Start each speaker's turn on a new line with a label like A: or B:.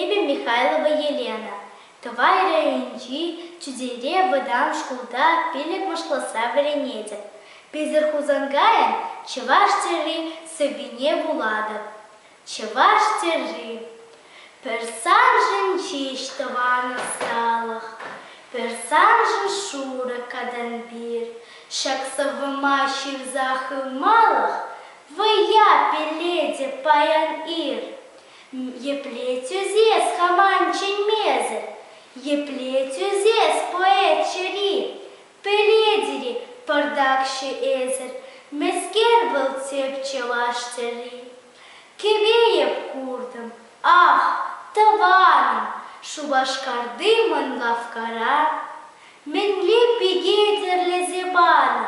A: эпӗ михайлова елена тӑвай районӗнчи чутейре вӑтам шкулта пилӗк-мӑшлӑсра вӗренетӗп пӗлтӗр хусанкайӑн чӑваш тӗрри сӑввине вулатӑп чӑваш тӗрри пӗр саншӑн ҫеҫ тӑван ӑсталӑх пӗр саншӑн шурӑ катанпир ҫак сӑввӑма ҫырса хывмалӑх Вӑя пӗлетӗп паян-ир, епле тӳсес хаман чӗнмесӗр, епле тӳсес поэт чӗри, пӗлетӗр-и пӑртакҫӑ эсӗр, мӗскер вӑл тӗп чӑваш тӗрри? Кӗпе-йӗп куртӑм, ах, тӑванӑм, Шупашкарти мӑн лавккара мӗнле пике тӗрлесе панӑ,